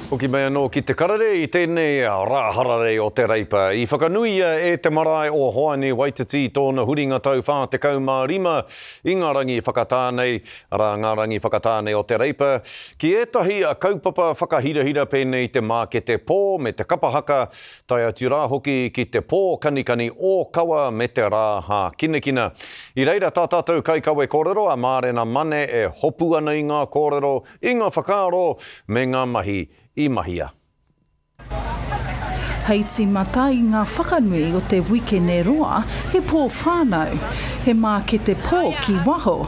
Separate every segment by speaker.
Speaker 1: Hoki mai anō ki Te Karere i tēnei rā hararei o Te Reipa. I whakanuia e te marae o Hoani Waititi tōna huringa tau 45 i ngā rangi whakatā nei, arā, ngā rangi whakatā nei o Te Reipa, ki ētahi kaupapa whakahirahira pēnei i te mākete pō me te kapa haka, tae atu rā hoki ki te pō kanikani ōkawa me te rā hākinakina. I reira tā tātou kaikawe kōrero a Mārena Mane e hopu ana i ngā kōrero, i ngā whakaaro me ngā mahi i mahia.
Speaker 2: Hei tīmata i ngā whakanui o te wikene roa, he pō whānau, he mākete pō ki waho,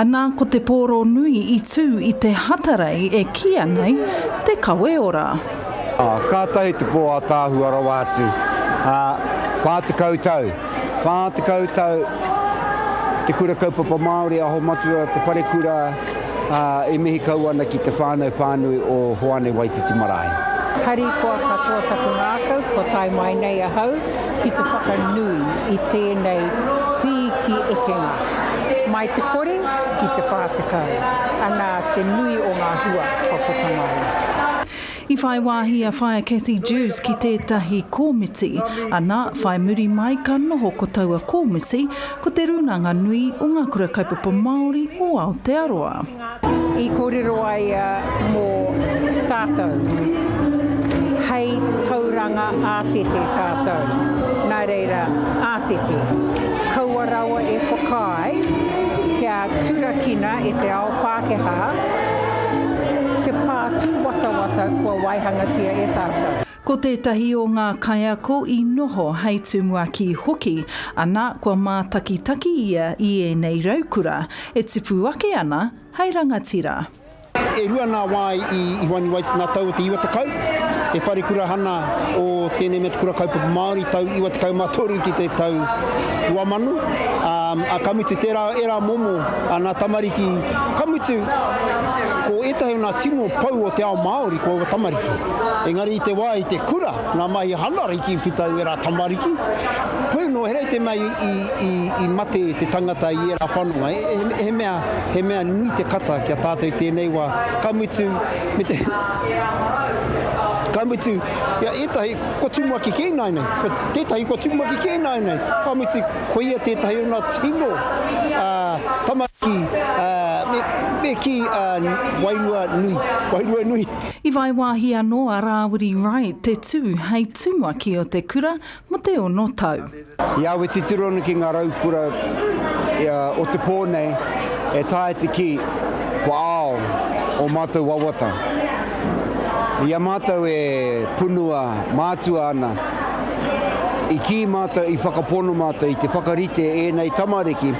Speaker 2: Ana ko te pōro nui i tū i te hatarei e kīia nei Te Kaweora.
Speaker 3: Kātahi te pō ātaahua rawa atu, ā, whā tekau tau, whā tekau tau Te Kura Kaupapa Māori Aho Matua Te Wharekura, ā, i mihi kau ana ki te whānau whānui o Hoani Waititi Marae. Hari koa
Speaker 4: katoa taku ngākau kua tae mai nei ahau. ki te whakanui i tēnei pīki ekenga, mai te kore ki te whā tekau, anā te nui o ngā hua kua puta mai. I whai
Speaker 2: wāhi a Whaea Cathy Dewes ki tētahi kōmiti, anā, whai muri mai ka noho ko taua kōmiti, ko Te Rūnanga Nui o Ngā Kura Kaupapa Māori o Aotearoa. i
Speaker 4: kōrero ai mō tātou, hei tauranga ātete tātou, nā reira, ātete, kaua rawa e whakaae kia turakina e te ao Pākehā te pā tūwatawata kua waihangatia e tātou. Ko tētahi o
Speaker 2: ngā kaiako i noho hei tumuaki hoki, ana, kua mātakitaki ia i ēnei raukura e tupu ake ana hei rangatira. E rua
Speaker 3: ngā wā i Ihoani Waith ngā tau o te iwa tekau, te wharekura hana o tēnei mea te Kura Kaupapa Māori, tau iwa tekau mā toru ki te tau rua mano, ā, ka mutu tērā ērā momo a ngā tamariki, ka mutu ko ētahi o ngā tino pou o te ao Māori ko aua tamariki. Engari i te wā i te kura ngā mahi hana riki i puta i ērā tamariki, koia nō he rei te mea i mate te tangata i ērā whanonga. He mea, he mea nui te kata ki a tātou i tēnei wā. Ka mutu, me te, ka mutu, ia ētahi kua tumuaki kē ināianei, kua tētahi kua tumuaki kē ināianei, ka mutu koia tētahi o ngā tino tamariki me kī wairua nui, wairua nui. I whai
Speaker 2: wāhi anō a Rāwiri Wright te tū hei tumuaki o te kura mō te ono tau. I awe titiro
Speaker 3: ana ki ngā raukura o te pō nei e taea te kī, kua ao ō mātou wawata. I a mātou e punua mātua ana, i kī mātou, i whakapono mātou i te whakarite ēnei tamariki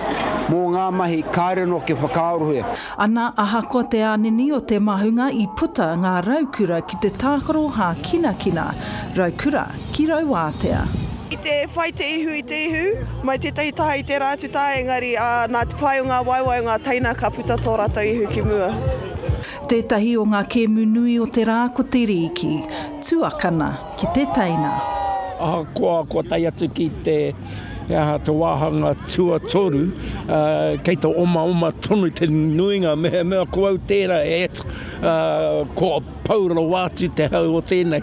Speaker 3: mō ngā mahi kāre noke whakaarohia. Ana, ahakoa
Speaker 2: te ānini o te mahunga i puta ngā raukura ki te tākaro hākinakina, raukura ki Rauātea. I te whai
Speaker 5: te ihu i te ihu, mai tētahi taha i tērā atu taha engari, ā, nā te pai o ngā waewae o ngā teina ka puta tō rātou ihu ki mua. Tētahi
Speaker 2: o ngā kēmu nui o te rā ko te rīki. Tuakana. ki te teina. Ahakoa
Speaker 6: kua tae atu ki te wāhanga tuatoru, kei te omaoma tonu te nuinga, mehemea ko au tērā, ētt, kua pau rawa atu te hau o tēnei.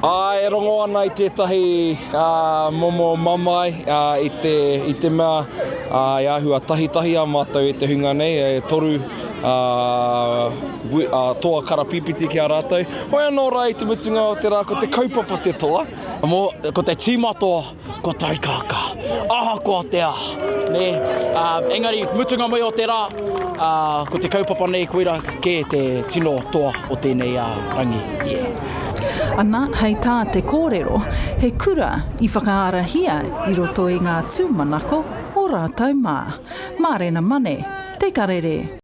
Speaker 6: Ā, e rongo ana i tētahi momo mamae i te mea e āhua tahitahia mātou e te hunga nei, e toru toa karapīpiti ki a rātou. Hoi anō rā i te mutunga o te rā ko te kaupapa te toa. Ko te tīma toa. Kua taikākā, ahakoa te aha, nē. Ā, engari, mutunga mai o te rā, ā, ko te kaupapa nei koirā kē te tino toa o tēnei, ā, rangi, yeah.
Speaker 2: Ana, hei tā te kōrero, he kura i whakaarahia i roto i ngā tūmanako o rātou mā. Mārena Mane, Te Karere.